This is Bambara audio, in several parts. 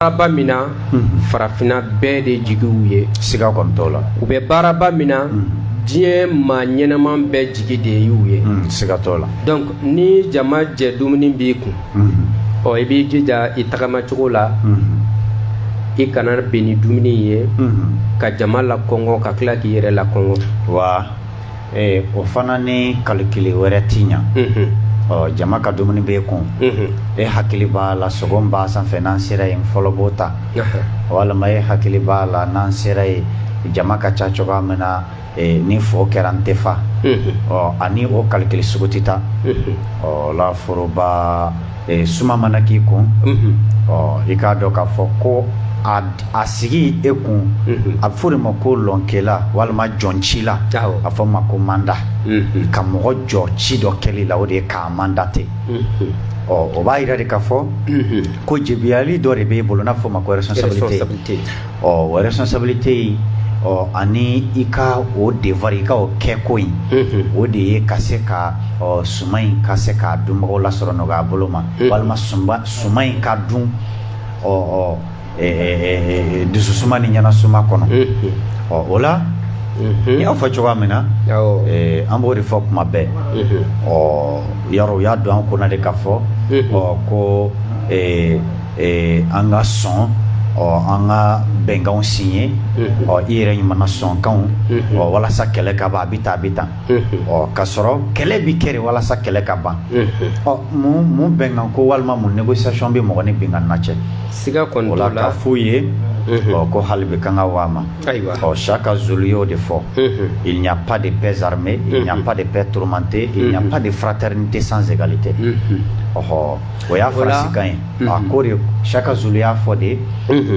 baaraba min na farafinna bɛɛ de jigiw ye siga kɔni t'o la u bɛ baaraba min na diɲɛ maa ɲɛnaman bɛɛ jigi de y'u ye siga t'o la donc ni jama jɛ dumuni b'i kun ɔ i b'i jija i tagamacogo la i kana bin ni dumuni ye ka jama lakɔngɔ ka tila k'i yɛrɛ lakɔngɔ wa Ee o fana ni kalikili wɛrɛ tɛ ɲɛ ɔ jama ka dumuni b'e kun e hakili b'a la sogo b'a sanfɛ n'an sera yen n fɔlɔ b'o ta walima e hakili b'a la n'an sera yen jama ka ca cogoya min na ni fɔ kɛra an tɛ fa ɔ ani o kalikili sugu tɛ ta ɔ foroba ee suma mana k'i kun ɔ i k'a dɔn k'a fɔ ko a sigi e kun a bɛ fɔ de ma ko lɔnkela walima jɔncila a fɔ ma ko mandat ka mɔgɔ jɔ ci dɔ kɛli la o de ye k'a mandater ɔ o b'a jira de k'a fɔ ko jebiyali dɔ de bɛ e bolo n'a bɛ fɔ ma ko responsabilité o responsabilité in ɔ ani i ka o devoir i ka o kɛko in o de ye ka se ka ɔ suma in ka se k'a dunbagaw lasɔrɔ nɔgɔya bolo ma walima suma in ka dun ɔ ɔ dususuma ni ɲɛnasuma kɔnɔ ɔ o la n y'a fɔ cogoya min na an b'o de fɔ kuma bɛɛ ɔ yɔrɔ u y'a don an kɔnɔ de k'a fɔ ɔ ko Ee an ka sɔn ɔ an ka bɛnkanw siɲe ɔ i yɛrɛ ɲuman na sɔnkanw ɔ walasa kɛlɛ ka ban a bɛ tan a bɛ tan ɔ k ka sɔrɔ kɛlɛ bɛ kɛ walasa kɛlɛ ka ban ɔ mun bɛnkan ko walima mun négociation bɛ mɔgɔ ni binkanna cɛ siga kɔnɔla ka foyi ye ɔ ko hali bi kanga waa ma ayiwa ɔ shaka zulu y'o de fɔ il n'y a pas de paix armée il n'y a pas de paix tourmentée il n'y a pas de fraternité sans égalité ɔɔ O y'a faransikan ye a ko de shaka zulu y'a fɔ de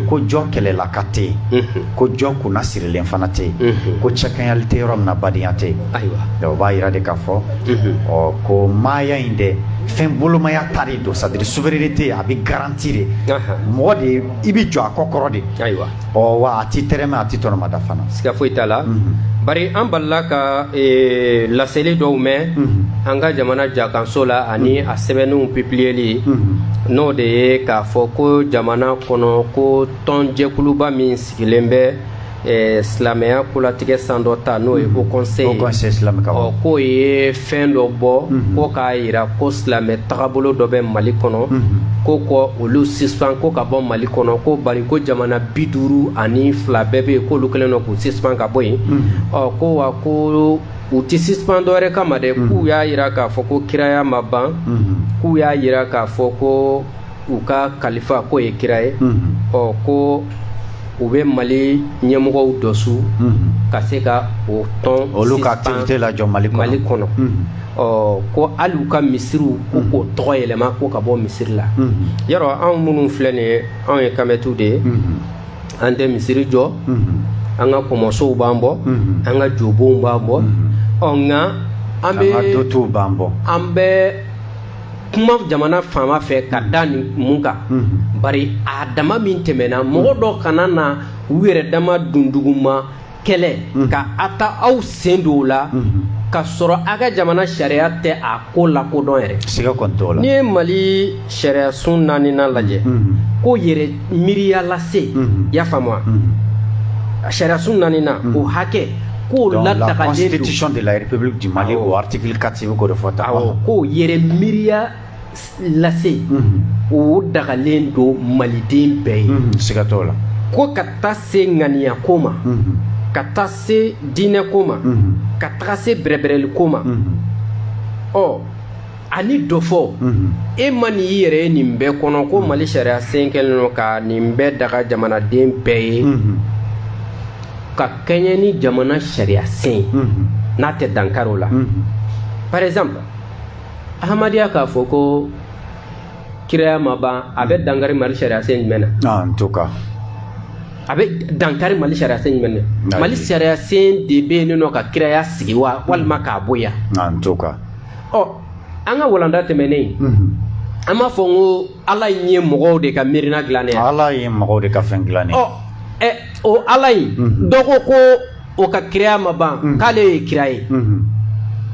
ko jɔ kɛlɛlaka tɛ yen ko jɔ kunnasirilen fana tɛ yen ko cɛkɛɲali tɛ yɔrɔ min badenya tɛ yen ayiwa b'a jira de k'a fɔ ɔ ko maaya in dɛ fɛn bolomaya ta de don c'est-à-dire souveraineté in a bɛ garanti de mɔgɔ de i bɛ jɔ a kɔkɔrɔ de ayiwa ɔ wa a ti tɛrɛmɛ a ti tɔnɔmada fana siga foyi t'a la bari an balila ka e, laseli dɔw mɛn an ka jamana jakanso la ani a sɛbɛnniw pipiliyeli n'o de ye k'a fɔ ko jamana kɔnɔ ko tɔn jɛkuluba min sigilen bɛ e, silamɛya kolatigɛ sandɔta n'o ye haut conseil ye ɔ k'o ye fɛn dɔ bɔ mhm. ko k'a jira ko silamɛ tagabolo dɔ bɛ mali kɔnɔ mhm. ko k'olu sispan ko ka bɔ mali kɔnɔ ko bari ko jamana bi duuru ani fila bɛɛ bɛ yen k'olu kɛlen don k'u sispan ka bɔ yen mhm. ɔ ko wa ko u tɛ sispan dɔwɛrɛ kama dɛ k'u y'a jira k'a fɔ ko kiraya ma ban k'u y'a jira k'a fɔ ko u ka kalifa k'o ye kira ye ɔ ko u bɛ mali ɲɛmɔgɔ dɔ su ka se ka o tɔn olu ka tɔn lajɔ mali mali kɔnɔ ɔ ko hali u ka misiriw ko k'o tɔgɔ yɛlɛma ko ka bɔ misiri la yɔrɔ anw minnu filɛ nin ye anw ye kamɛtu de ye an tɛ misiri jɔ an ka kɔmɔsow b'an bɔ an ka jobonw b'an bɔ ɔ nka an bɛ an ka dotuw b'an bɔ an bɛ kuma jamana faama fɛ ka da ni mun kan bari a dama min tɛmɛna mɔgɔ dɔw kana na u yɛrɛ dama dunduguma kɛlɛ ka a ta aw sen don o la ka sɔrɔ a ka jamana sariya tɛ a ko lakodɔn yɛrɛ siga kɔni t'o la n'i ye mali sariyasun naaninan lajɛ ko yɛrɛ miiriya lase i y'a faamu wa sariyasun naaninan o hakɛ ko latagalen de la république du Mali o article 4 sɛbɛn ko de fɔ tan awɔ ko yɛrɛ miiriya lase o dagalen don maliden bɛɛ ye siga t'o la ko ka taa se ŋaniya ko ma ka taa se diinɛ ko ma ka taga se bɛrɛbɛrɛli ko ma ɔ ani dɔ fɔ e ma nin i yɛrɛ ye nin bɛɛ kɔnɔ ko mali sariya sen kɛlen don ka nin bɛɛ daga jamanaden bɛɛ ye ka kɛɲɛ ni jamana sariya sen n'a tɛ dankari o la par exemple ahamadiya k'a fɔ ko kiraya ma ban a bɛ dankari mali sariya sen jumɛn na a bɛ dankari mali sariya sen jumɛn na mali sariya sen de bɛ yen nɔ ka kiraya sigi wa walima k'a bonya ɔ an ka walanda tɛmɛnen an b'a fɔ n ko ala in ye mɔgɔw de ka miirina dilannen ye ala ye mɔgɔw de ka fɛn dilannen ɔ ɛ o ala in dɔ ko ko o ka kiraya ma ban k'ale ye kira ye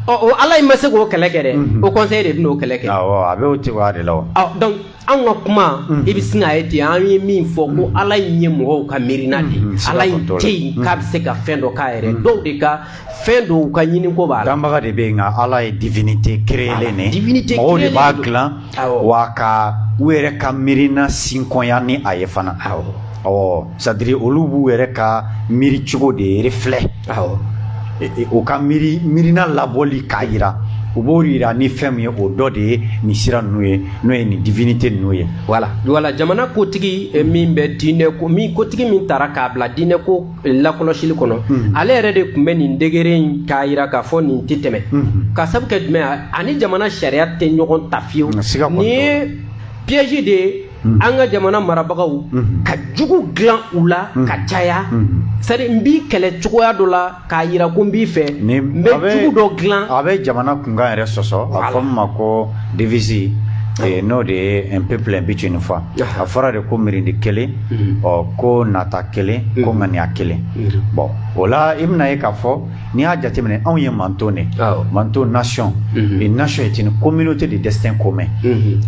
ɔ o ala in ma se k'o kɛlɛ kɛ dɛ o kɔnsɛyi de bɛna o kɛlɛ kɛ awɔ a bɛ o cogoya de la o donc an ka kuma i bɛ sin k'a ye ten an ye min fɔ ko ala in ye mɔgɔw ka miirina de ala in tɛ yen k'a bɛ se ka fɛn dɔ k'a yɛrɛ dɔw de ka fɛn don u ka ɲiniko b'a la danbaga de bɛ yen nka ala ye divinité créelen de divinité mɔgɔw de b'a dilan wa ka u yɛrɛ ka miirina sinkɔnya ni a ye fana awɔ c'est-à-dire olu b'u yɛrɛ ka miiri cogo de yɛrɛ filɛ e, e, u ka miiri miirina labɔli k'a jira u b'o jira ni fɛn min ye o dɔ de ye nin sira ninnu ye n'o ye nin divinité ninnu ye wala wala jamana kotigi e, min bɛ diinɛ ko min kotigi min tara k'a bila diinɛ ko lakɔlɔsili kɔnɔ hmm. ale yɛrɛ de tun bɛ nin décret in k'a jira k'a fɔ nin tɛ tɛmɛ hmm. ka sabu kɛ jumɛn ani jamana sariya tɛ ɲɔgɔn ta fiyewu nin ye piège de ye Mm-hmm. an ka jamana marabagaw mm-hmm. ka jugu dilan u la mm-hmm. ka caya c'est à dire n b'i kɛlɛ cogoya dɔ la k'a yira ko n b'i fɛ n bɛ jugu dɔ dilan a bɛ jamana kunkan yɛrɛ sɔsɔ a fɔ min ma ko devisi eh, n'o de ye un peuple un but une foi a fɔra de ko mirindi kelen ɔ ko nata kelen ko ŋaniya kelen bon o la i bɛn'a ye k'a fɔ n'i y'a jateminɛ anw ye manto de manto nation nation est une communauté de destin commun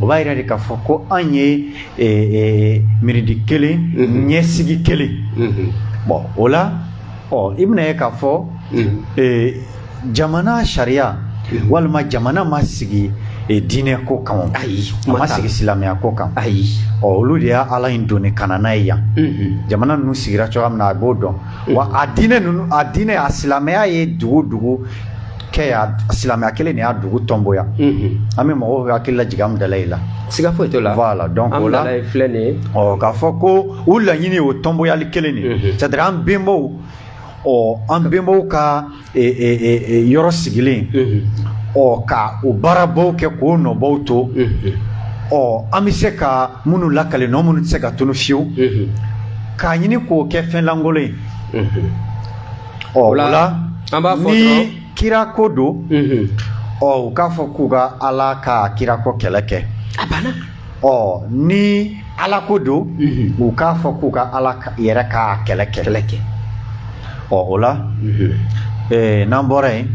o b'a yira de k'a fɔ ko anw ye mirindi kelen ɲɛsigi kelen bon o la ɔ i bɛn'a ye k'a fɔ jamana sariya walima jamana ma sigi diinɛ ko kan ayi ma sigi silamɛya ko kan ayi ɔ olu de ye ala in doni ka na n'a ye yan jamana ninnu sigira cogoya min na a b'o dɔn wa a diinɛ ninnu a diinɛ a silamɛya ye dugu dugu kɛ y'a silamɛya kelen de y'a dugu tonboya an bɛ mɔgɔw ka hakili lajigin an dal'a la siga foyi t'o la voilà donc o la filɛ nin ye ɔ k'a fɔ ko u laɲini o tonboyali kelen de c'est à dire an bɛnbaw ɔ an bɛnbaw ka yɔrɔ sigilen ɔ ka o baarabaw kɛ k'o nɔbaw to ɔ an bɛ se ka minnu lakale nɔ minnu tɛ se ka tunu fiyewu k'a ɲini k'o kɛ fɛn lankolon ye ɔ o la an b'a fɔ ni kira ko don ɔ u k'a fɔ k'u ka ala ka kira ko kɛlɛ kɛ a banna ɔ ni ala ko don u k'a fɔ k'u ka ala yɛrɛ ka kɛlɛ kɛ kɛlɛ kɛ ɔ o la eh, n'an bɔra yen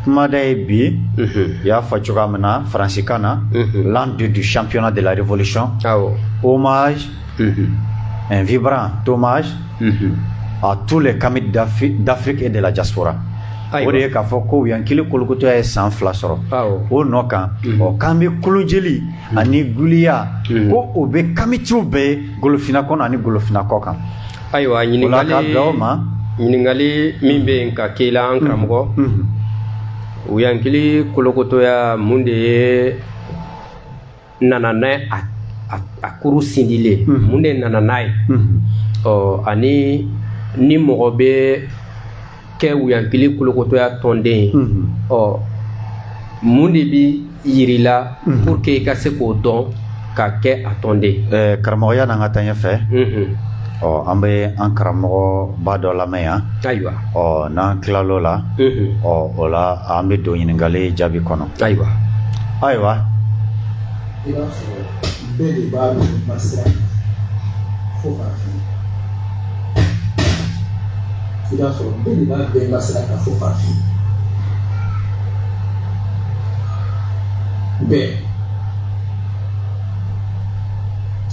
kumada ye bi u y'a fɔ cogoya min na faransikan na l'an deux du championnat de la révolution hommage un vibrant hommage à tous les kamites d'Afrique et de la diaspora o de ye k'a fɔ ko yankili kolokotɔya ye san fila sɔrɔ o nɔ kan ɔ k'an bɛ kolonjeli ani guliya ko o bɛ kamitiw bɛɛ ye golofina kɔnɔ ani golofina kɔ kan ayiwa ɲininkali ka bila o ma ɲininkali min bɛ yen ka k'i la an karamɔgɔ yankili kolokotɔya mun de ye nana n'a ye a a kuru sindilen mun de nana n'a ye ɔ ani ni mɔgɔ bɛ kɛ wuyankili kolokotɔya tɔnden ye ɔ mun de bɛ yir'i la pour que i ka se k'o dɔn ka kɛ a tɔnden ye karamɔgɔ yanni an ka taa ɲɛfɛ Ɔ an bɛ an karamɔgɔba dɔ lamɛn yan ayiwa ɔ n'an tilala o la ɔ o la an bɛ don ɲininkali jaabi kɔnɔ ayiwa ayiwa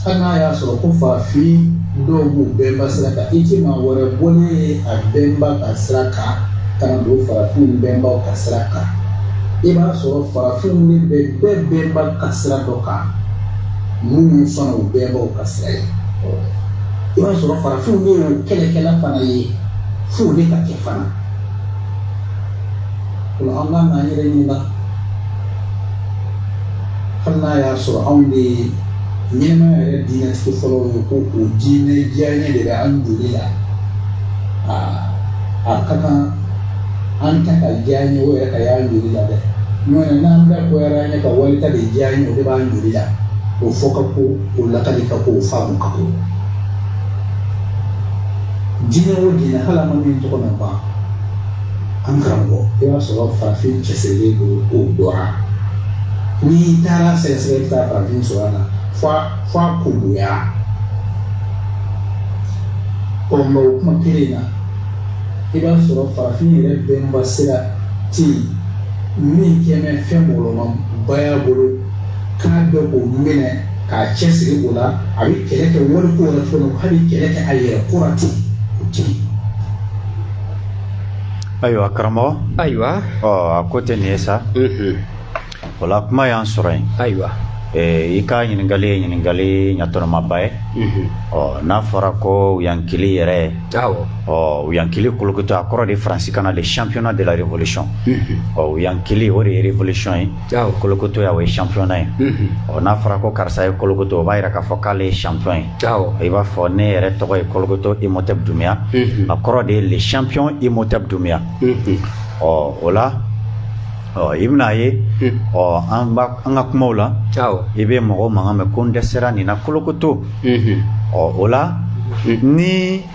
Hali n'a y'a sɔrɔ ko farafin dɔw b'u bɛnba sira kan i tɛ maa wɛrɛ bɔnen ye a bɛnba ka sira kan ka na don farafin bɛnbaw ka sira kan i b'a sɔrɔ farafinw de bɛ bɛɛ bɛnba ka sira dɔ kan minnu ye fana u bɛnbaw ka sira ye i b'a sɔrɔ farafinw de ye kɛlɛkɛla fana ye fo de ka kɛ fana o an b'an ka yɛrɛ ɲini na hali n'a y'a sɔrɔ anw de ye ɲɛnamaya yɛrɛ diinɛtigi fɔlɔw ye ko o diinɛ diyaɲɛ de bɛ an joli la a ka kan an ta ka diyaɲɛ o yɛrɛ ka y'an joli la dɛ n'o tɛ n'an bɛɛ bɔra ɲɛ ka wali ta de diyaɲɛ o de b'an joli la o fɔ ka ko o lakali ka ko o faamu ka ko diinɛ o diinɛ hali an ma min tɔgɔ na ban an karamɔgɔ i b'a sɔrɔ farafin cɛsirilen don o dɔ la n'i taara sɛgɛsɛgɛ i bɛ taa farafin sɔrɔ a la f'a f'a kungoya ɔ mɛ o kuma kelen in na i b'a sɔrɔ farafin yɛrɛ bɛnba sira tɛ yen min kɛ bɛ fɛn mɔgɔlɔma ba y'a bolo k'a bɛ o minɛ k'a cɛsiri o la a bɛ kɛlɛ kɛ wari ko yɛrɛ fɔlɔ hali kɛlɛ kɛ a yɛrɛ kura ten o tɛ yen Ayiwa karamɔgɔ ayiwa a ko tɛ nin ye sa o la kuma y'an sɔrɔ yen ayiwa i ka ɲininkali ye ɲininkali ɲatɔnɔmaba ye ɔ n'a fɔra ko yankili yɛrɛ ye ɔ yankili kolokotoya a kɔrɔ de faransikan na de championnat de la révolution ɔ yankili o de ye révolution ye kolokotoya o ye championnat ye ɔ n'a fɔra ko karisa ye kolokoto o b'a jira k'a fɔ k'ale ye champion ye i b'a fɔ ne yɛrɛ tɔgɔ ye kolokoto imotɛ Dunbiya a kɔrɔ de ye le champion imotɛ Dunbiya ɔ o la ɔ i bɛna a ye ɔ an ka kumaw la i bɛ mɔgɔw mankan mɛn ko n dɛsɛra nin na kolokoto ɔ o la ni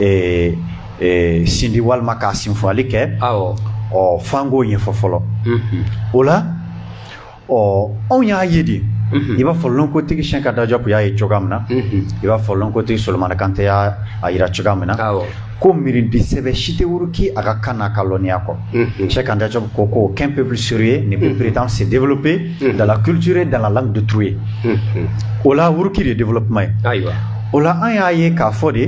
ee ee sindi walima k'a sinfɔli kɛ awɔ ɔ f'an k'o ɲɛfɔ fɔlɔ o la ɔ anw y'a ye de i b'a fɔ lɔnkotigi Cheikh Anta Diop y'a ye cogoya min na i b'a fɔ lɔnkotigi solomana kante y'a yira cogoya min na ko mirindi sɛbɛ si tɛ wuruki a ka kan n'a ka lɔnniya kɔ Cɛ kan da ko ko kɛnp pepsur ye nin bɛ peretan sen de pe dala kire dala de tu ye o la wuriki de de kuma ye ayiwa o la an y'a ye k'a fɔ de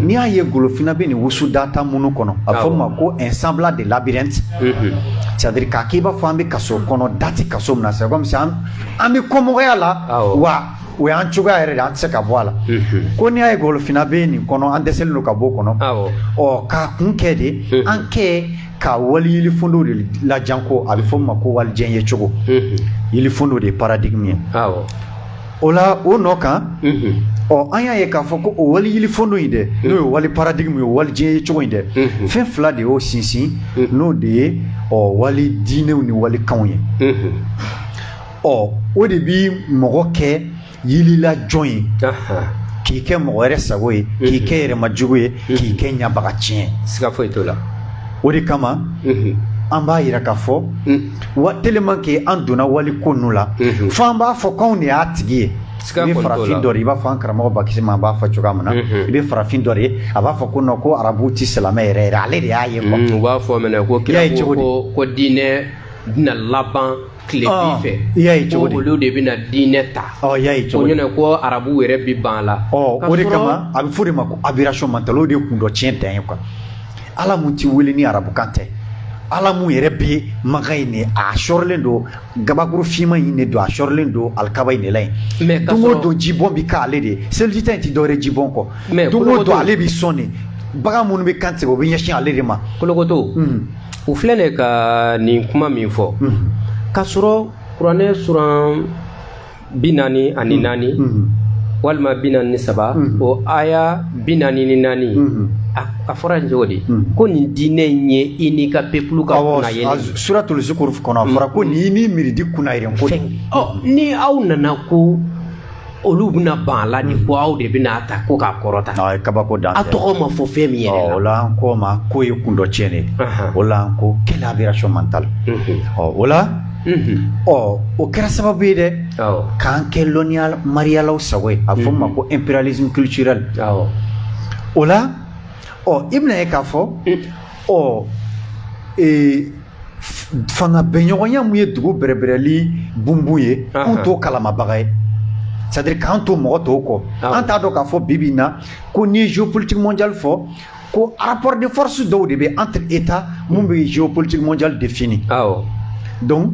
n'i y'a ye golofinna bɛ nin wusu da tan minnu kɔnɔ a fɔ ma ko n san de labiriti sadiri k'a k'i b'a fɔ an bɛ ka so kɔnɔ dati ka so minɛ sa an bɛ kɔmɔgɔya la wa o y'an cogoya yɛrɛ de an tɛ se ka bɔ a la ko n'i y'a ye golofinna bɛ nin kɔnɔ an dɛsɛlen don ka bɔ o kɔnɔ ɔ k'a kun kɛ de an kɛ ka wali yelifundo de lajan ko a bɛ fɔ o ma ko wali jɛn ye cogo yelifundo de ye paradigme ye o la o nɔ kan ɔ an y'a ye k'a fɔ ko o wali yelifundo in dɛ n'o ye wali paradigme ye wali jɛn ye cogo in dɛ fɛn fila de y'o sinsin n'o de ye ɔ wali diinɛw ni wali kanw ye. ɔ o de bi mɔgɔ kɛ yilila jɔn ye k'i kɛ mɔgɔ wɛrɛ sago ye k'i kɛ yɛrɛmajugu ye k'i kɛ ɲabaga tiɲɛ siga foyi t'o la o de kama an b'a yira k'a fɔ wa tellement que an donna wali ko ninnu la fo an b'a fɔ k'anw de y'a tigi ye i bɛ farafin dɔ ye i b'a fɔ an karamɔgɔ bakisima b'a fɔ cogoya min na i bɛ farafin dɔ ye a b'a fɔ ko non ko arabu ti silamɛ yɛrɛ yɛrɛ ale de y'a ye u b'a fɔ même ko kira ko ko diinɛ bɛna laban tilebin fɛ i y'a ye cogo di ko olu de bɛna diinɛ ta ɔ i y'a ye cogo di ko diinɛ ko arabu yɛrɛ bɛ ban a la ɔ o de kama a bɛ fɔ de ma ko aberration mentale o de ye kundɔ tiɲɛ dan ye quoi ala mun ti wele ni arabukan tɛ ala mun yɛrɛ bɛ maka in de a sɔrɔlen don gabakuru finman in de don a sɔrɔlen don alikaba in de la yen don o don jibɔn bɛ k'ale de ye seliji ta in tɛ dɔwɛrɛ jibɔn kɔ don o don ale bɛ sɔn de bagan minnu bɛ kan tigɛ o bɛ ɲɛsin ale de ma kolokoto o filɛ ne ka nin kuma min fɔ ka sɔrɔ kuranɛ suran bi naani ani naani walima bi naani ni saba o aya bi naani ni naani a fɔra nin cogo de ko nin diinɛ in ye i n'i ka peuple ka kunna ye sura tolisi kɔnɔ a fɔra ko nin y'i n'i mirindi kunna ye ko ni aw nana ko olu bɛna ban a la ni ko aw de bɛn'a ta ko k'a kɔrɔta o ye kabako dan a tɔgɔ ma fɔ fɛn min yɛrɛ la o la an k'o ma k'o ye kundɔ tiɲɛ de o la an ko quelle aberration mentale ɔ o la ɔ o kɛra sababu ye dɛ k'an kɛ lɔnniya mariyalaw sago ye a bɛ fɔ ma ko impérialisme culturel o la ɔ i bɛn'a ye k'a fɔ ɔ ee fanga bɛɲɔgɔnya mun ye dugu bɛrɛbɛrɛli bunbun ye k'an to kalamabaga ye c'est-à-dire k'an to mɔgɔ tɔw kɔ an t'a dɔn k'a fɔ bi bi na ko n'i ye géopolitique mondiale fɔ ko rapport de force dɔw de bɛ entre états mun bɛ géopolitique mondiale défini donc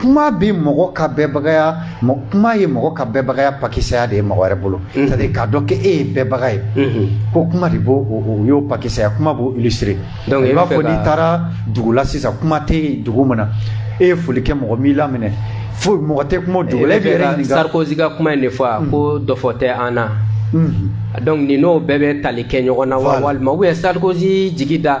kuma bɛ mɔgɔ ka bɛɛbagaya kuma ye mɔgɔ ka bɛɛbagaya pakisɛsɛya de ye mɔgɔ wɛrɛ bolo k'a dɔn kɛ e ye bɛɛbaga ye ko kuma de b'o o y'o pakisɛsɛya kuma b'o illustrer donc i b'a fɔ n'i taara dugu la sisan kuma tɛ dugu min na e ye foli kɛ mɔgɔ m'i laminɛ fo mɔgɔ tɛ kuma dugu sarkozy ka kuma in de fɔ a ko dɔfɔ tɛ an na donc nin n'o bɛɛ bɛ tali kɛ ɲɔgɔn na wa walima u ye sarkozy jigi da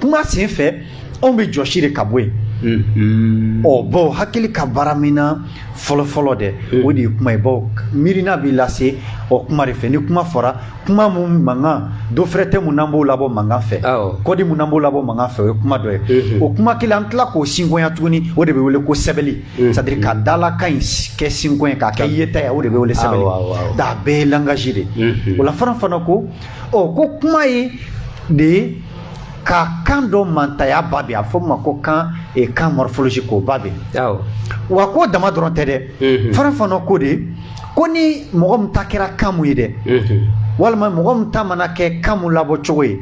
kuma sen fɛ anw bɛ jɔsi de ka bɔ yen Mm-hmm. ɔ bawo hakili ka baaraminɛn fɔlɔfɔlɔ dɛ mm. o de ye kuma ye bawo miirina b'i lase ɔ kuma de fɛ ni kuma fɔra kuma mun mankan dɔ fɛrɛ tɛ mun n'an b'o labɔ mankan fɛ code mun n'an b'o labɔ mankan fɛ o ye kuma dɔ ye mm-hmm. o kuma kelen an tila k'o sinkonya tuguni o de bɛ wele ko sɛbɛli mm-hmm. c'est-à-dire ka dalakan in kɛ sinko ye k'a kɛ yeta ye o de bɛ wele sɛbɛli donc bɛɛ ye langage de o la Frantz Fanon ko ɔ ko kuma ye de ye ka kan dɔ mantanya ba bɛ a fɔ ma ko kan e kan morphologie ko ba bɛ wa k'o dama dɔrɔn tɛ dɛ Frantz Fanon ko de ko ni mɔgɔ min ta kɛra kan mun ye dɛ walima mɔgɔ min ta mana kɛ kan mun labɔ cogo ye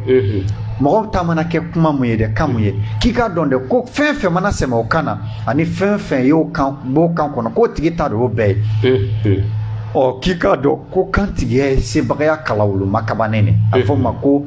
mɔgɔ ta mana kɛ kuma mun ye dɛ kan mun ye k'i k'a dɔn dɛ ko fɛn fɛn mana sɛmɛ o kan na ani fɛn fɛn y'o kan b'o kan kɔnɔ k'o tigi ta de y'o bɛɛ ye ɔ k'i k'a dɔn ko kantigiya ye sebagaya kalawoloma kabannen de a fɔ ma ko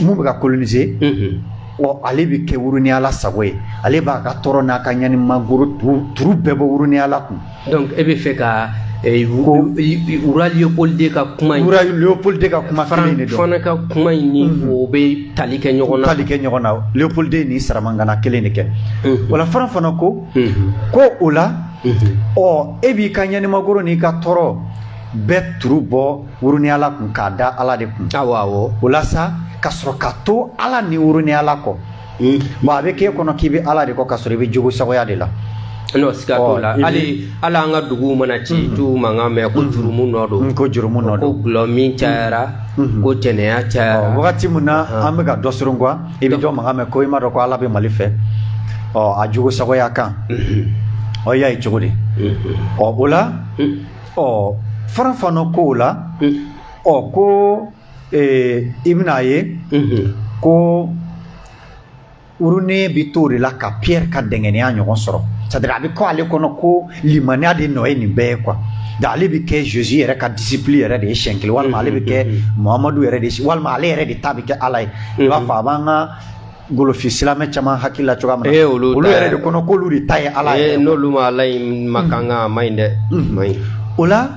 mun bɛ ka coloniser ale bɛ kɛ woroyala sago ye ale b'a ka tɔɔrɔ n'a ka ɲanimagoro turu bɛɛ bɔ woroyala kun e bɛ fɛ ka roi Léopold deux ka kuma Léopold deux ka kuma ka kuma in o bɛ tali kɛ ɲɔgɔn na tali kɛ ɲɔgɔn na Léopold deux ni saramangana kelen de kɛ o la Frantz Fanon ko ko o la ɔ e b'i ka ɲanimagoro n'i ka tɔɔrɔ bɛɛ turu bɔ woroyala kun k'a da ala de kun o la ka sɔrɔ ka to ala ni woroyala kɔ hmm. bon a bɛ k'e kɔnɔ k'i bɛ ala de kɔ ka sɔrɔ i bɛ jugu sagoya de la n'o siga t'o la hali hali an ka duguw mana ci mm-hmm. dɔ mankan mɛn ko mm-hmm. jurumu nɔ don mm-hmm. ko jurumu nɔ don ko dɔlɔmin cayara ko jɛnɛya cayara wagati min na an bɛ ka dɔ sɔrɔ quoi i bɛ dɔ mankan mɛn ko i m'a dɔn ko ala bɛ mali fɛ ɔ a jugu sagoya kan ɔ y'a ye cogo di ɔ o la Ɔ Frantz Fanon ko o la ɔ ko i bɛna a ye ko woronen bɛ t'o de la ka Pierre ka dɛngɛniya ɲɔgɔn sɔrɔ c'est-à-dire a bɛ kɛ ale kɔnɔ ko limaniya de nɔ ye nin bɛɛ ye quoi donc ale bɛ kɛ Jésus yɛrɛ ka disciple yɛrɛ de ye siɲɛ kelen walima ale bɛ kɛ Muhamadu yɛrɛ de ye walima ale yɛrɛ de ta bɛ kɛ Ala ye i b'a fɔ a b'an ka golofin silamɛ caman hakili la cogoya min na olu yɛrɛ de kɔnɔ k'olu de ta ye ala ye n'olu ma ala in ma kan ka ma ɲi dɛ ma ɲi o la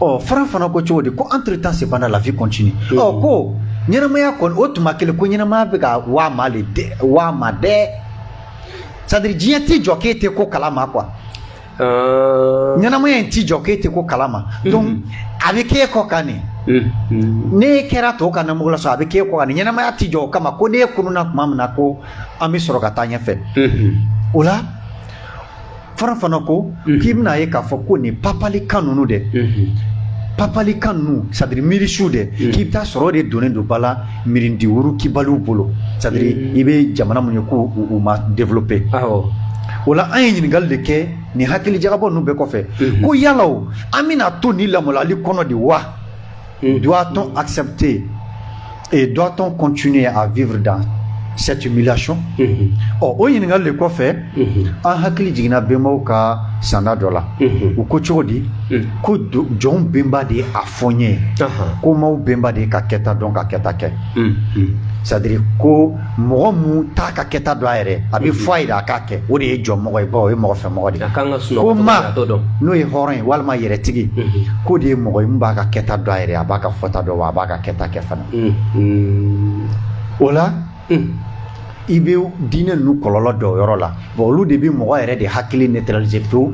ɔ Frantz Fanon ko cogo di ko entre-temps cependant la vie continue ɔ ko ɲɛnamaya kɔni o tuma kelen ko ɲɛnamaya bɛ ka waa ma le dɛ waa ma dɛ c'est-à-dire diɲɛ tɛ jɔ k'e tɛ ko kalama quoi Euh, ɲɛnamaya in t'i jɔ k'e tɛ ko kalama mhm. donc a bɛ k'e kɔ kan nin mhm. n'e kɛra tɔw ka namugu la sɔrɔ a bɛ k'e kɔ kan nin ɲɛnamaya t'i jɔ o kama ko n'e kununna tuma min na ko an bɛ sɔrɔ ka taa ɲɛfɛ mhm. o la Frantz Fanon ko k'i bɛn'a ye k'a fɔ ko nin papali kan ninnu dɛ papali kan ninnu c'est-à-dire miirisuw dɛ k'i bɛ taa sɔrɔ o de donnen don ba la mirindi wurukibaliw bolo c'est à dire i bɛ jamana mun ye ko u ma developper o la an ye ɲininkali de kɛ nin hakili jagabɔ ninnu bɛɛ kɔfɛ ko yala o an bɛna to nin lamɔlali kɔnɔ de wa doit-on accepter et doit-on continuer à vivre dans cette humiliation ɔ o ɲininkali de kɔfɛ an hakili jiginna bɛnbaw ka sanda dɔ la u ko cogo di ko jɔnw bɛnba de ye a fɔ n ye ko maaw bɛnba de ye ka kɛta dɔn ka kɛta kɛ c'est à dire ko mɔgɔ min t'a ka kɛta dɔn a yɛrɛ a bɛ fɔ a ye de a k'a kɛ o de ye jɔnmɔgɔ ye bawo o ye mɔgɔ fɛ mɔgɔ de ye ko maa n'o ye hɔrɔn ye walima yɛrɛtigi k'o de ye mɔgɔ ye min b'a ka kɛta dɔn a yɛrɛ a b'a ka fɔta dɔn wa a b'a ka kɛta kɛ fana o la i bɛ diinɛ ninnu kɔlɔlɔ dɔ yɔrɔ la bon olu de bɛ mɔgɔ yɛrɛ de hakili neutraliser pewu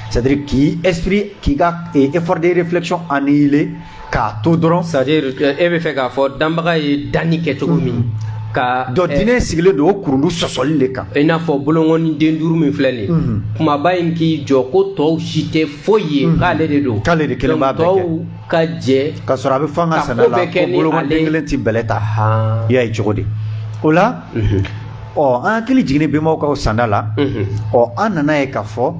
c'est à dire k'i esprit k'i ka eh, effort de réflexion annihiler k'a to dɔrɔn c'est à dire e bɛ fɛ k'a fɔ danbaga ye danni kɛ cogo min ka donc eh, diinɛ sigilen don o kurundu sɔsɔli de kan i n'a fɔ bolonkɔnin den duuru min filɛ nin ye mhm. kunbaba in k'i jɔ ko tɔw si tɛ foyi ye mhm. k'ale de don k'ale de kelen b'a bɛɛ kɛ ka jɛ k'a sɔrɔ a bɛ fɔ an ka sanda la ko bolokɔnin den kelen tɛ bɛlɛ ta i y'a ye cogo di o la ɔ an hakili jiginni bɛnbaw ka sanda la ɔ an nan'a ye k'a fɔ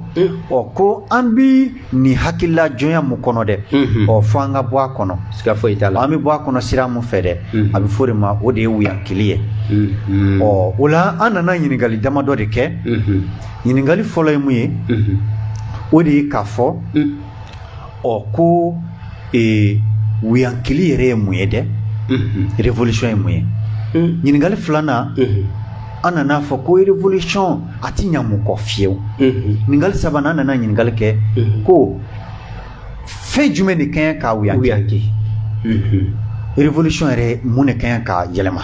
ɔ ko an bi nin hakilila jɔnya mun kɔnɔ dɛ ɔ fo an ka bɔ a kɔnɔ siga foyi t'a la an bɛ bɔ a kɔnɔ sira mun fɛ dɛ a bɛ fɔ o de ma o de ye wuyankili ye ɔ o la an nana ɲininkali damadɔ de kɛ ɲininkali fɔlɔ ye mun ye o de ye k'a fɔ ɔ ko ee wuyankili yɛrɛ ye mun ye dɛ revolution ye mun ye ɲininkali filanan an nan'a fɔ ko revolution a ti ɲa mun kɔ fiyewu ɲininkali sabanan an nana ɲininkali kɛ ko fɛn jumɛn de ka ɲi ka wuyanki revolution yɛrɛ mun de ka ɲi ka yɛlɛma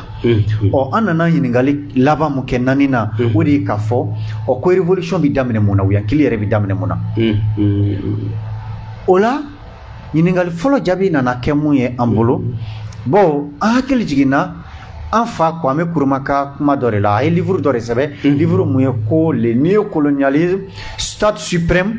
Ɔ an nana ɲininkali laban min kɛ naaninan o de ye k'a fɔ ɔ ko revolution bɛ daminɛ mun na wuyankili yɛrɛ bɛ daminɛ mun na o la ɲininkali fɔlɔ jaabi nana kɛ mun ye an bolo bon an hakili jiginna an fa Kwame Nkrumah ka kuma dɔ de la a ye liburu dɔ de sɛbɛn liburu mun ye ko le néo-colonialisme stade suprême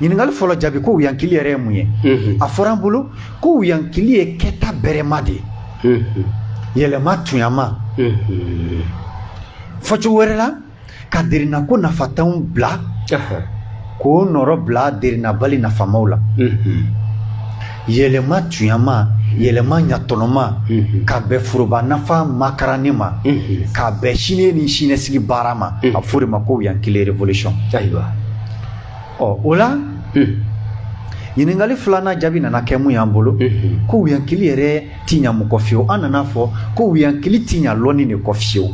ɲininkali fɔlɔ jaabi ko wuyankili yɛrɛ ye mun ye a fɔra an bolo ko wuyankili ye kɛta bɛrɛma de ye yɛlɛma tuɲama fɔcogo wɛrɛ la ka derinako nafantanw bila k'o nɔrɔ bila derinabali nafamaw la yɛlɛma tuɲama yɛlɛma ɲatɔnɔma ka bɛn foroba nafa makaranni ma ka bɛn sini ni siniɲɛsigi baara ma a fɔ o de ma ko wuyankili revolution ayiwa ɔ o la ɲininkali filanan jaabi nana kɛ mun y'an bolo ko wuyankili yɛrɛ ti ɲa mun kɔ fiyewu an nana fɔ ko wuyankili ti ɲa lɔnni de kɔ fiyewu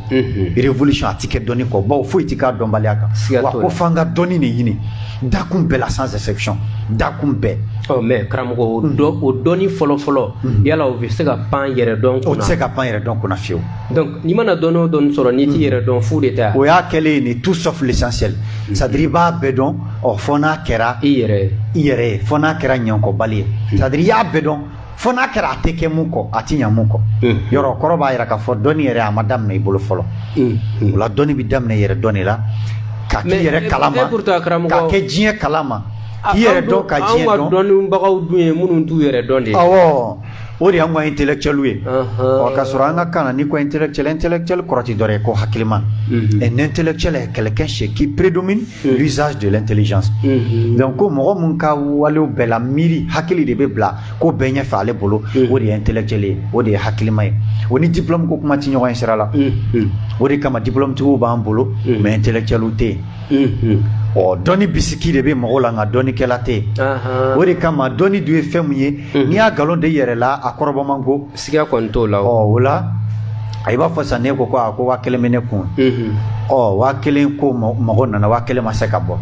revolution a ti kɛ dɔnni kɔ bawo foyi ti k'a dɔnbaliya kan wa ko f'an ka dɔnni de ɲini dakun bɛɛ la sans exception dakun bɛɛ ɔ mais karamɔgɔ o dɔnni fɔlɔfɔlɔ yala o bɛ se ka pan yɛrɛ dɔn kunna o tɛ se ka pan yɛrɛ dɔn kunna fiyewu donc n'i mana dɔn o dɔn sɔrɔ n'i t'i hmm. yɛrɛ dɔn fu de tɛ o y'a kɛlen ye tout sauf l'essentiel hmm. c'est à dire i b'a bɛɛ dɔn ɔ fo n'a kɛra i yɛrɛ i yɛrɛ ye fo n'a kɛra ɲakɔbali ye hmm. c'est à dire i y'a bɛɛ dɔn fo n'a kɛra a tɛ kɛ mun kɔ a tɛ ɲa mun kɔ mm. yɔrɔ kɔrɔ b'a yira k'a fɔ dɔnni yɛrɛ a ma daminɛ i bolo fɔlɔ mm. Mm. o la dɔnni bɛ daminɛ yɛrɛ dɔn de la ka k'i yɛrɛ kalama ka kɛ diɲɛ kalama k'i yɛrɛ dɔn ka diɲɛ dɔn anw ka dɔnnibagaw dun ye minnu t'u yɛrɛ dɔn de ye awɔ O de y' ka intelɛcɛli ye ka sɔrɔ an ka kan ni ko inlɛcɛlɛ kɔrɔti dɔ ye ko hakilima ɛ n tɛcɛlɛ kɛlɛkɛ sɛ k'i pereredon min z jɔlen teli jan dɔnku ko mɔgɔ min ka wali bɛɛ la miiri hakili de bɛ bila ko bɛn ɲɛ fɛ ale bolo o de ye ntɛcɛlen o de ye hakilima ye o ni dibilabugu kuma tɛ ɲɔgɔn in sira la o de kama dibilalantigiw b'an bolo mɛ ntɛcɛliw tɛ yen ɔ dɔnni bisigi de bɛ mɔgɔw la nka dɔnnikɛla tɛ yen o de kama dɔnni dun ye fɛn min ye n'i y'a nkalon d'i yɛrɛ la a kɔrɔbɔ man go siga kɔni t'o la o la i b'a fɔ sisan ne ko ko a ko waa kelen bɛ ne kun ɔ waa kelen ko mɔgɔ nana waa kelen ma se ka bɔ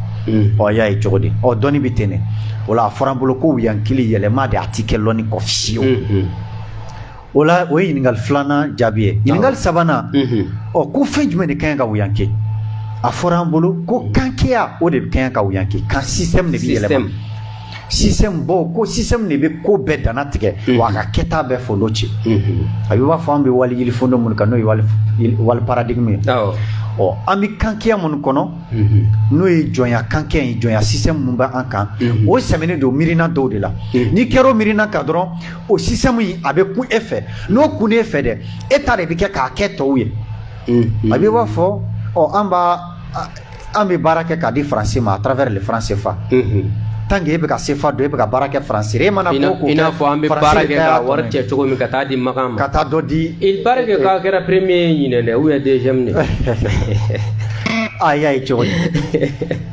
ɔ y'a ye cogo di ɔ dɔnni bɛ ten ne o la a fɔra an bolo ko wuyankili yɛlɛma de a ti kɛ lɔnni kɔ fiyewu O la o ye ɲininkali filanan jaabi ye ɲininkali sabanan ɔ ko fɛn jumɛn de kaɲi ka wuyanke a fɔra an bolo ko kankeya o de kaɲi ka wuyanke kan système de bɛ yɛlɛma système bawo ko système de bɛ ko bɛɛ dantigɛ wa a ka kɛta bɛɛ folo ci a b'i b'a fɔ an bɛ wali yiri fondo minnu kan n'o ye wali paradigme ye ɔ an bɛ kankeya minnu kɔnɔ n'o ye jɔnya kankeya ye jɔnya système minnu bɛ an kan o sɛmɛnen don miirina dɔw de la n'i kɛra o miirina kan dɔrɔn o système in a bɛ kun e fɛ n'o kunn'e fɛ dɛ e ta de bɛ kɛ k'a kɛ tɔw ye a b'i b'a fɔ ɔ an b'a an bɛ baara kɛ k'a di faransi ma à travers le franc CFA tant que e bɛ ka sefa don e bɛ ka baara kɛ faransi ye i mana ko i n'a fɔ an bɛ baara kɛ ka wari cɛ cogo min ka taa di makan ma ka taa dɔ di i baara kɛ k'a kɛra premier ye ɲinan dɛ ou bien deuxième de ayi ayi cogo di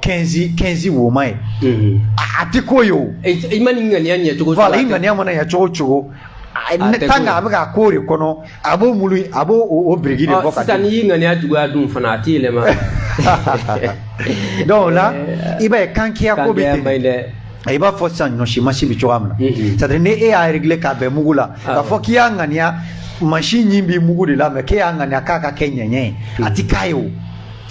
kɛnzi kɛnzi woma ye mhm. a tɛ ko ye o i man'i ŋaniya ɲɛ cogo cogo i ŋaniya mana ɲɛ cogo cogo tant qu'a bɛ ka ko de kɔnɔ a b'o mulu a b'o o biriki de bɔ ka sisan n'i y'i ŋaniya juguya dun fana a ti yɛlɛma donc o la i b'a ye kankeya ko bɛ ten i b'a fɔ sisan ɲɔsi masin bɛ cogoya min na mhm. c'est à dire ni e y'a réglé k'a bɛn mugu la ah. k'a fɔ k'i y'a ŋaniya masin ɲin bi mugu de la mais k'e y'a ŋaniya k'a ka kɛ ɲɛɲɛ ye a ti k'a ye o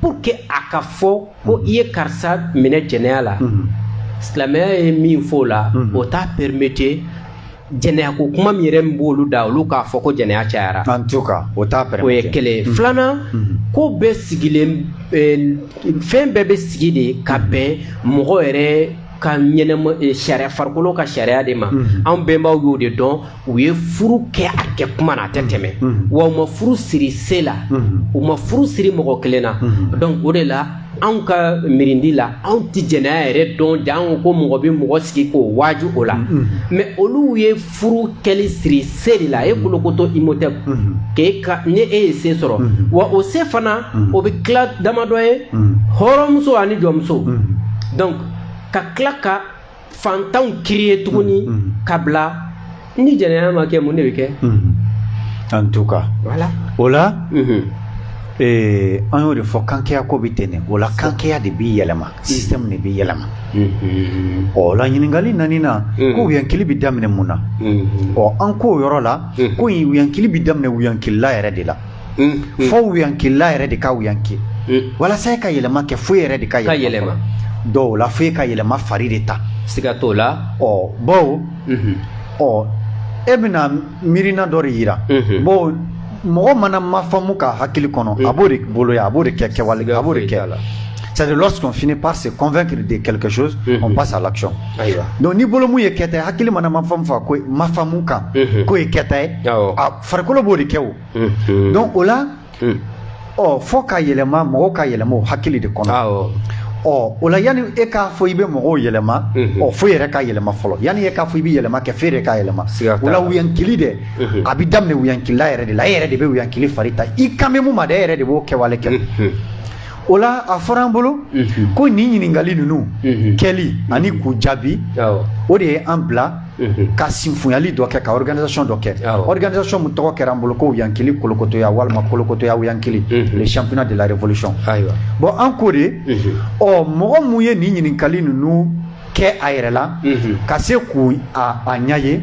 pour que a ka fɔ ko i ye karisa minɛ jɛnɛya la mhm. silamɛya ye min fɔ o la mhm. o t'a permete jɛnɛya ko kuma min yɛrɛ min b'olu da olu k'a fɔ ko jɛnɛya cayara en tout cas o t'a permete o ye kelen mhm. filanan ko bɛɛ sigilen eh, fɛn bɛɛ bɛ sigi de ka bɛn mɔgɔ yɛrɛ ka ɲɛnɛma eh, sariya farikolo ka sariya de ma anw bɛnbaw y'o de dɔn u ye furu kɛ a kɛ kuma na a tɛ tɛmɛ wa u ma furu siri se la u ma furu siri mɔgɔ kelen na donc o de la anw ka miirindi la anw tɛ jɛnɛya yɛrɛ dɔn janko mɔgɔ bɛ mɔgɔ sigi k'o waaju o la mm-hmm. Mm-hmm. mais olu ye furu kɛli siri se de la e mm-hmm. kolokoto imotɛp k'e ka ni e ye se sɔrɔ wa o se fana o bɛ tila damadɔ ye hɔrɔnmuso ani jɔnmuso donc ka tila ka fantanw kiri ye tuguni mm, mm. ka bila ni jɛnɛya ma kɛ mun de bɛ kɛ mm-hmm. en tout cas voilà o la mm-hmm. eh, an y'o de fɔ kankɛya ko bɛ ten de o la kankɛya de b'i yɛlɛma mm-hmm. système de b'i yɛlɛma ɔ la ɲininkali naaninan ko wuyankili bɛ daminɛ mun na ɔ an k'o yɔrɔ la ko wuyankili bɛ daminɛ wuyankilila yɛrɛ de la fo wuyankilila yɛrɛ de ka wuyanki walasa ka yɛlɛma kɛ fo i yɛrɛ de ka yɛlɛma dɔw la fo i ka yɛlɛma fari de ta siga t'o la ɔ bawo e bɛna miirina dɔ de jira bawo mɔgɔ mana ma faamu ka hakili kɔnɔ a b'o de bolo a b'o de kɛ kɛwale a b'o de kɛ la c'est de lorsqu'on finit par se convaincre de quelque chose on passe à l'action donc ni bolo mun ye kɛta ye hakili mana ma faamu fa ko ma faamu kan ko ye kɛta ye a farikolo b'o de kɛ o donc o la ɔ fo ka yɛlɛma mɔgɔw ka yɛlɛma o hakili de kɔnɔ ɔ o la yanni e k'a fɔ i bɛ mɔgɔw yɛlɛma ɔ fo i yɛrɛ ka yɛlɛma fɔlɔ yanni e k'a fɔ i bɛ yɛlɛma kɛ fo i yɛrɛ ka yɛlɛma o la wuyankili dɛ a bɛ daminɛ wuyankilila yɛrɛ de la e yɛrɛ de bɛ wuyankili fari ta i kan bɛ mun ma dɛ e yɛrɛ de b'o kɛwale kɛ o la a fɔra an bolo ko nin ɲininkali ninnu kɛli ani k'u jaabi o de ye an bila ka sinfonyali dɔ kɛ ka organisation dɔ kɛ organisation min tɔgɔ kɛra an bolo ko wuyankili kolokotoya walima kolokotoya wuyankili le championnat de la révolution bon an ko de ɔ mɔgɔ mun ye nin ɲininkali ninnu kɛ a yɛrɛ la ka se k'u a ɲɛ ye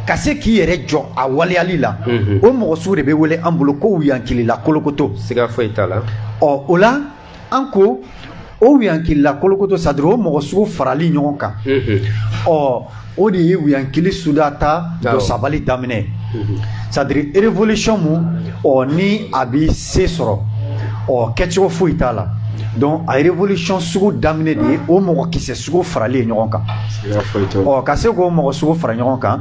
ka se k'i yɛrɛ jɔ a waleyali la o mɔgɔ sugu de bɛ wele an bolo ko wuyankilila kolokoto siga foyi t'a la ɔ o la an ko o wuyankilila kolokoto c'est-à-dire o mɔgɔ sugu farali ɲɔgɔn kan ɔ o de ye wuyankili suda ta don sabali daminɛ c'est-à-dire révolution mun ɔ ni a bɛ se sɔrɔ ɔ kɛcogo foyi t'a la donc a révolution sugu daminɛ de ye o mɔgɔ kisɛ sugu farali ye ɲɔgɔn kan ɔ ka se k'o mɔgɔ sugu fara ɲɔgɔn kan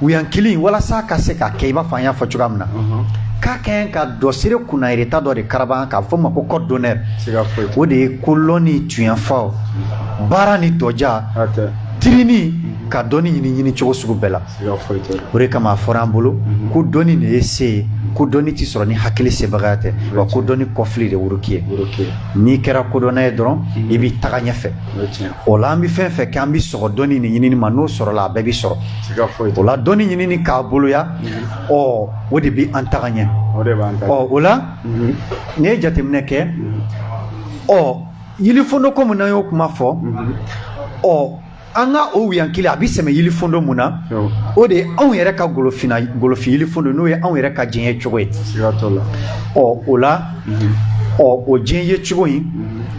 wiyankili walasa ka se ka kɛ i b'a fɔ an y'a fɔ cogoya min na k'a kɛ ka dɔsire kunnayirita dɔ de karaban k'a fɔ ma ko code d'honneur o de ye kolɔnni tuɲɛfɔ baara ni tɔja tirini ka dɔnni ɲini ɲini cogo sugu bɛɛ la o de kama a fɔra an bolo mhm. ko dɔnni de ye se ye ko dɔnni tɛ sɔrɔ ni hakili sebagaya tɛ wa ko dɔnni kɔfili de woroki ye n'i kɛra kodɔnna ye dɔrɔn mhm. i b'i taga ɲɛfɛ O la an bɛ fɛn fɛn kɛ an bɛ sɔgɔ dɔnni ni ɲinini ma n'o sɔrɔla a bɛɛ bɛ sɔrɔ o la dɔnni ɲinini k'a boloya ɔ o de bɛ an taga ɲɛ ɔ o la n ye jateminɛ kɛ ɔ yilifondo ko min an y'o kuma fɔ ɔ an ka o wiyankili a bɛ sɛmɛ yilifondo min na o de ye anw yɛrɛ ka golofinna golofin yilifondo n'o ye anw yɛrɛ ka diɲɛ ye cogo ye ɔ o la ɔ o diɲɛ ye cogo in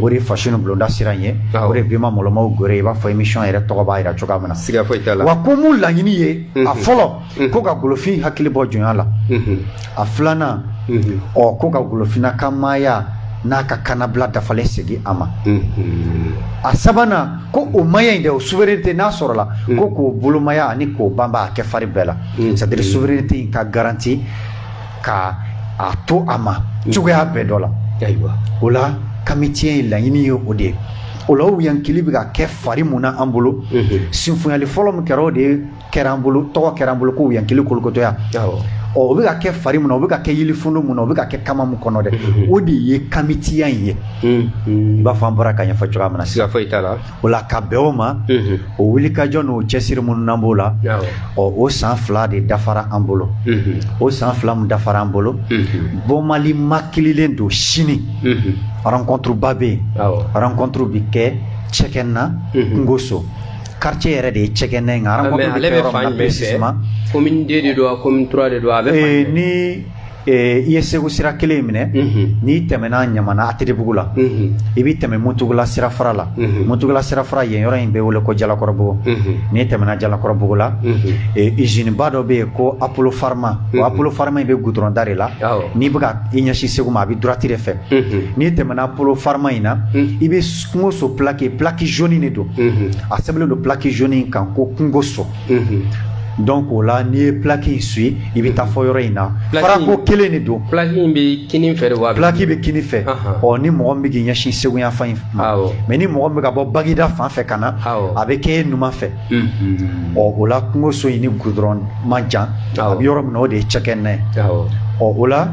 o de fasi bulonda sira ye o de bima malolɔmaw g i b'a fɔ emisiyɔn yɛrɛ tɔgɔ b'a jira cogoya min na siga foyi t'a la wa ko mu laɲini ye a fɔlɔ ko ka golofin hakili bɔ jɔnya la a filanan ɔ ko ka golofinna ka maaya n'a ka kanabila dafalen segin a ma a sabanan ko o maaya in de o souveraineté n'a sɔrɔla ko k'o bolomaya ani k'o banba a kɛ fari bɛɛ la sadiri souveraineté ka garanti ka a to a ma cogoya bɛɛ dɔ la ayiwa o la kamitiya in laɲini ye o de ye o la wiyankili bɛ ka kɛ fari mun na an bolo sinfonyali fɔlɔ min kɛra o de kɛra an bolo tɔgɔ kɛra an bolo ko wiyankili kolokotɔya ɔ o bɛ ka kɛ fari mun na o bɛ ka kɛ yilifondo mun na o bɛ ka kɛ kama mun kɔnɔ dɛ o de ye kamitiya in ye i b'a fɔ an bɔra k'a ɲɛfɔ cogoya min na siga foyi t'a la O la ka bɛn o ma o wulikajɔ n'o cɛsiri minnu na b'o la ɔ o san fila de dafara an bolo o san fila min dafara an bolo bɔnma makililen don sini rankɔntiriba bɛ yen rankɔntiri bɛ kɛ cɛgɛna kungoso karicɛ yɛrɛ de ye cɛgɛna ye ale bɛ fa bɛ se ma ko de don ko de don a bɛ ni I ye segu sira kelen in minɛ n'i tɛmɛna ɲamana atetebugu la i bɛ tɛmɛ muntugula sirafara la muntugula sirafara yen yɔrɔ in bɛ wele ko jalakɔrɔbugu n'i tɛmɛna jalakɔrɔbugu la iziniba dɔ bɛ yen ko apolofarma o apolofarma in bɛ gudurɔn da de la n'i bɛ k'i ɲɛsin segu ma a bɛ durwati de fɛ n'i tɛmɛna apolofarma in na i bɛ kungoso plaki plaki zoni de don a sɛbɛnnen don plaki zoni kan ko kungoso dɔnki o la n'i ye plaki in suivi i bɛ taa fɔ yɔrɔ in na farako kelen de don plaki in bɛ kini fɛ wa plaki bɛ kini fɛ ɔ ni mɔgɔ min bɛ k'i ɲɛsin segu yanfan in ma mɛ ni mɔgɔ bɛ ka bɔ bagida fan fɛ ka na a bɛ kɛ i numan fɛ ɔ o la kungoso in ni gudurɔn man jan a bɛ yɔrɔ min na o de ye cɛgɛna ye ɔ o la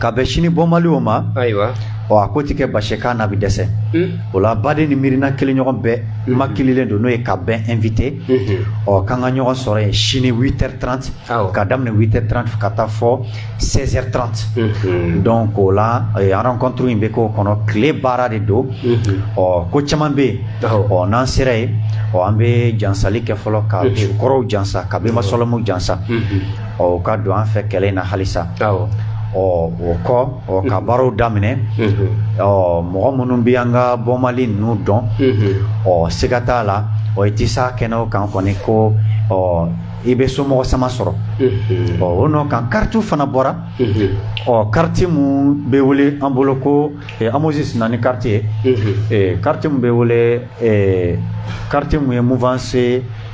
ka bɛn sini bɔnbali o ma ayiwa ɔ a ko tɛ kɛ basikan na bɛ dɛsɛ o la baden ni miirina kelen ɲɔgɔn bɛɛ makililen don n'o ye ka bɛɛ ɛnwite ɔ k'an ka ɲɔgɔn sɔrɔ yen sini witɛri tranti ka daminɛ witɛri tranti ka taa fo sɛzɛri tranti dɔnki o la an rankɔntiri in bɛ k'o kɔnɔ tile baara de don ɔ ko caman bɛ yen ɔ n'an sera yen ɔ an bɛ jansali kɛ fɔlɔ ka kɔrɔw jansa ka bɛnba sɔlɔmɛw jansa ɔ ka don an fɛ kɛlɛ in na halisa ɔ o kɔ ɔ ka baaraw daminɛ ɔ mɔgɔ minnu bɛ an ka bɔmali ninnu dɔn ɔ siga t'a la ɔ i tɛ s'a kɛnɛw kan kɔni ko ɔ i bɛ somɔgɔ sama sɔrɔ ɔ o nɔ kan karitiw fana bɔra ɔ kariti minnu bɛ wele an bolo ko amosisi ani kariti ye kariti minnu bɛ wele kariti minnu ye muvanse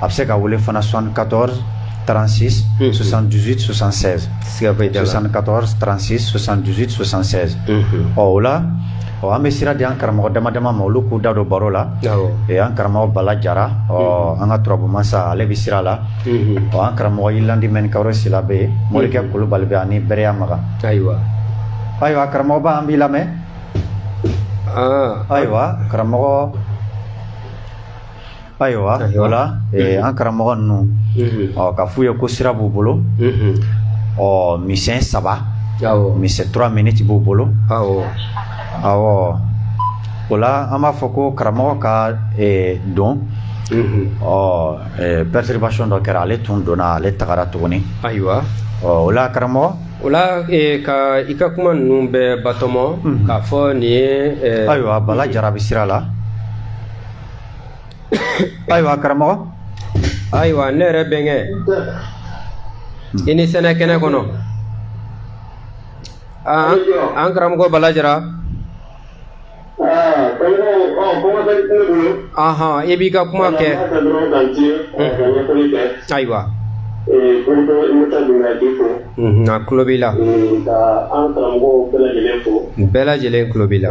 a bɛ se ka wele fana 74 36 78 76 74 36 78 76 ɔ o la ɔ an bɛ sira di an karamɔgɔ dama dama ma olu k'u da don baro la ee an karamɔgɔ Bala Jara ɔ an ka turabu masa ale bɛ sira la ɔ an karamɔgɔ Yilandi Mɛnikawore Sila bɛ yen Morikɛ Kulubali bɛ ani Bɛrɛya Makan ayiwa ayiwa karamɔgɔba an b'i lamɛn ayiwa karamɔgɔ Ayiwa o la an karamɔgɔ ninnu ɔ ka f'u ye ko sira b'u bolo ɔ misɛn saba misɛn turuwa miniti b'u bolo o la an b'a fɔ ko karamɔgɔ ka don ɔ pɛritiribasiyɔn dɔ kɛra ale tun donna ale tagara tuguni ayiwa ɔ o la karamɔgɔ o la ka i ka kuma ninnu bɛ batoma k'a fɔ nin ye ayiwa bala jara bɛ sira la ayiwa karamɔgɔ ayiwa ne yɛrɛ bɛnkɛ i ni sɛnɛ kɛnɛ kɔnɔ an karamɔgɔ bala jara ahɔn i b'i ka kuma kɛ ayiwa a tulo b'i la bɛɛ lajɛlen tulo b'i la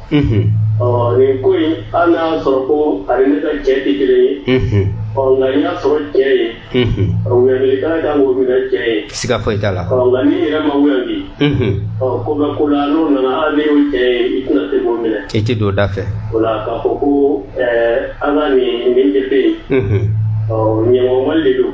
ɔ nin ko in an n'a sɔrɔ ko ale ne ka cɛ tɛ kelen ye ɔ nka n y'a sɔrɔ cɛ ye wuyanilikala kan k'o minɛ cɛ ye siga foyi t'a la ɔ nka n'i yɛrɛ ma wuyandi ɔ ko bɛ ko la n'o nana hali n'i y'o cɛ ye i tɛna se k'o minɛ i tɛ don da fɛ o la k'a fɔ ko an ka nin nin de bɛ yen ɔ ɲɛmɔgɔ mali de don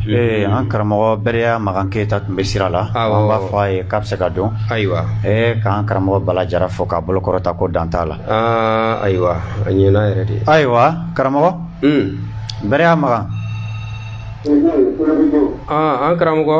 Ee an karamɔgɔ bɛrɛya makan keyita tun bɛ sira la an b'a fɔ a ye k'a bɛ se ka don ayiwa ee k'an karamɔgɔ bala jara fo k'a bolo kɔrɔta ko dan t'a la ayiwa a ɲɛna yɛrɛ de ayiwa karamɔgɔ bɛrɛya makan an karamɔgɔ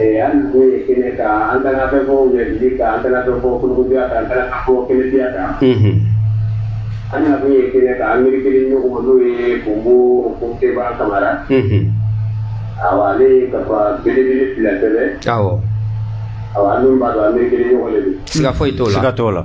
Ɛɛ an nakun ye kɛnɛ kan an taara fɛn fɔ wulɛsiri kan an taara fɛn fɔ kolokoja kan an taara fɛn fɔ kɛnɛtiya kan. An nakun ye kɛnɛ kan an miirikɛ ɲɔgɔn ma n'o ye Bonbo Seba Kamara. Awɔ ale ye kafa belebele fila sɛbɛn. Awɔ. Awɔ an dun b'a dɔn an miirikɛ ɲɔgɔn de don. Siga foyi t'o la. Siga t'o la.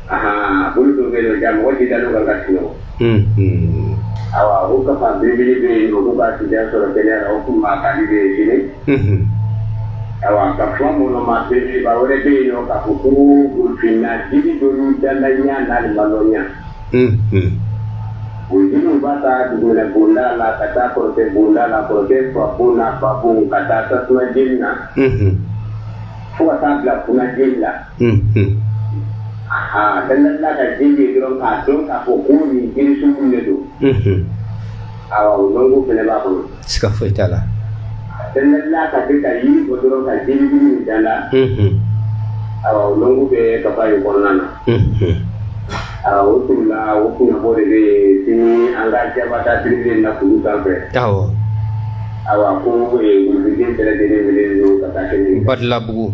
Aa bolo dɔ bɛ yen nɔ ja mɔgɔ tɛ da don ka ka sunɔgɔ. Unhun. Awa o kafa belebele bɛ yen nɔ k'u ka sijan sɔrɔ kɛnɛya la o tun b'a ka di bɛɛ sini. Unhun. Awa kafa an mɔnɔ ma belebeleba wɛrɛ bɛ yen nɔ k'a fɔ ko golofinna jiri dɔ y'u dandaɲa n'a lamaloɲa. Unhun. O jiriw b'a ta dugumɛnɛ bonda la ka taa kɔrɔtɛ bonda la kɔrɔtɛ fa bon n'a ba bon ka taa tasuma jeni na. Unhun. Fo ka taa bila kuna jeni la. aa bɛɛ na ka jiri ye dɔrɔn k'a dɔn k'a fɔ ko nin jiri sugu de don awɔ o dɔnko fɛnɛ b'a kɔnɔ siga foyi t'a la bɛɛ na ka se ka yiri bɔ dɔrɔn ka jiri jugu min dan la awɔ o dɔnko bɛ kafa in kɔnɔna na awɔ o tun la o kunnafɔ de bɛ sini an ka jabata tiribile na kulu sanfɛ awɔ awa ko kuluden bɛɛ lajɛlen wele don ka taa kɛnɛ badalabugu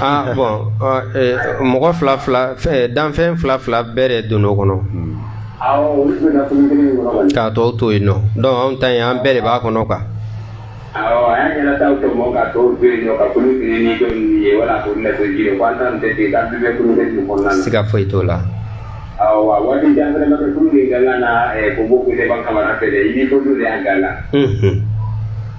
ah bon mɔgɔ fila fila danfɛn fila fila bɛɛ de don o kɔnɔ k'a tɔw to yen nɔ donc anw ta yen an bɛɛ de b'a kɔnɔ kan siga foyi t'o la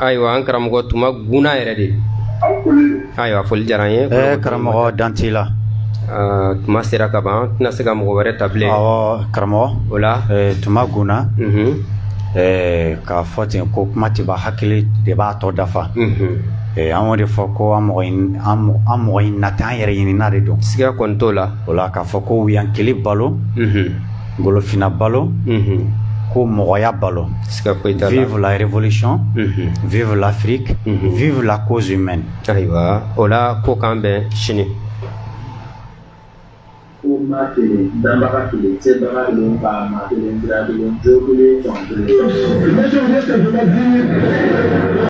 Ayiwa an karamɔgɔ tuma gna yɛrɛ de ayiwa foli diyara ye karamɔgɔ Dante la tuma sera kaban tɛna se ka mɔgɔ wɛrɛ ta karamɔgɔ o la tuma gna k'a fɔ ten ko kuma tɛ ban hakili de b'a tɔ dafa an b'o de fɔ ko an mɔgɔ ɲinina tɛ an yɛrɛ ɲinina de don siga kɔni t'a la o la k'a fɔ ko yan kelen balo Golofina balo ko mɔgɔya balo vive la révolution vive l'Afrique vive la cause humaine ayiwa o la ko k'an bɛn sini ko maa kelen danbaga kelen sebaga kelen faama kelen sira kelen jo kelen jɔn kelen